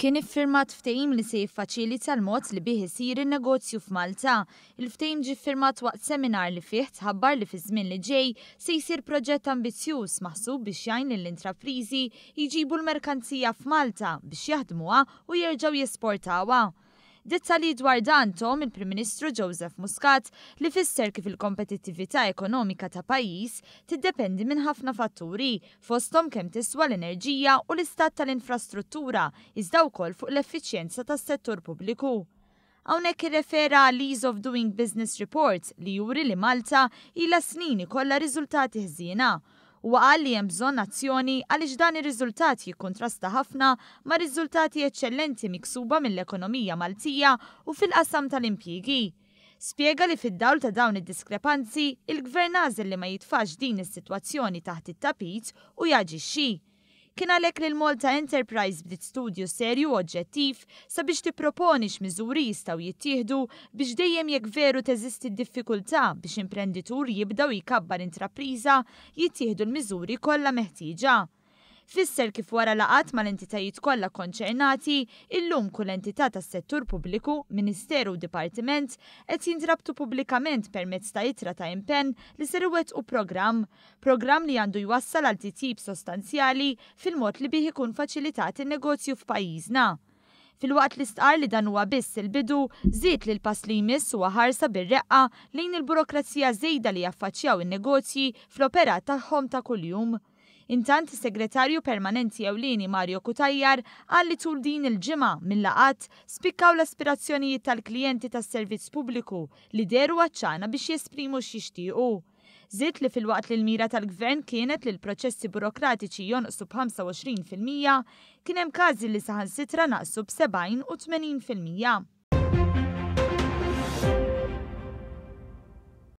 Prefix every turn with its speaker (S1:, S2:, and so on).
S1: Kien iffirmat ftehim li se jiffaċilita l-mod li bih isir in-negozju f'Malta. Il-ftehim ġie ffirmat waqt seminar li fih tħabbar li fiż-żmien li ġej se jsir proġett ambizzjuż maħsub biex jgħin lill-intrapriżi jġibu l-merkanzija f'Malta biex jaħdmuha u jerġgħu jesportawha. Dettalji dwar dan thom il-Prim Ministru Joseph Muscat li fisser kif il-kompetittività ekonomika ta' pajjiż tiddependi minn ħafna fatturi fosthom kemm tiswa l-enerġija u l-istat tal-infrastruttura iżda wkoll fuq l-effiċjenza tas-settur pubbliku. Hawnhekk irrefera għall-Ease of Doing Business Report li juri li Malta ilha snin ikollha riżultati ħżiena Huwa qal li hemm bżonn azzjoni għaliex dan ir-riżultat jikkuntrasta ħafna ma' riżultati eċċellenti miksuba mill-ekonomija Maltija u fil-qasam tal-impjiegi. Spjega li fid-dawl ta' dawn id-diskrepanzi, il-Gvern għażel li ma jitfax din is-sitwazzjoni taħt it-tapit u jaġixxi. Kien għalhekk li l-Malta Enterprise bdiet studju serju u oġġettiv sabiex tipproponi x'miżuri jistgħu jittieħdu biex dejjem jekk veru teżisti d-diffikultà biex imprenditur jibda u jkabbar intrapriża jittieħdu l-miżuri kollha meħtieġa. Fisser kif wara laqgħat mal-entitajiet kollha kkonċernati, illum kull entità tas-settur pubbliku, ministeru u dipartiment qed jintrabtu pubblikament permezz ta' ittra ta' impenn li ser iwettqu programm Programm li għandu jwassal għal titjib sostanzjali fil-mod li bih ikun faċilitat in-negozju f'pajjiżna. Filwaqt li stqarr li dan huwa biss il-bidu, żied li l-pass li jmiss huwa ħarsa bir-reqqa lejn il-burokrazija żejda li jaffaċċjaw in-negozji fl-operat tagħhom ta' kuljum. Intant is-Segretarju Permanenti Ewlieni Mario Cutajar qal li tul din il-ġimgħa mil-laqgħat spikkaw l-aspirazzjonijiet tal-klijenti tas-servizz pubbliku li dehru għat-ċana biex jesprimu x'jixtiequ. Żied li filwaqt li l-mira tal-Gvern kienet li l-proċessi burokratiċi jonqsu b'25 fil-mija, kien hemm każi li saħansitra naqsu b'70 u 80 fil-mija.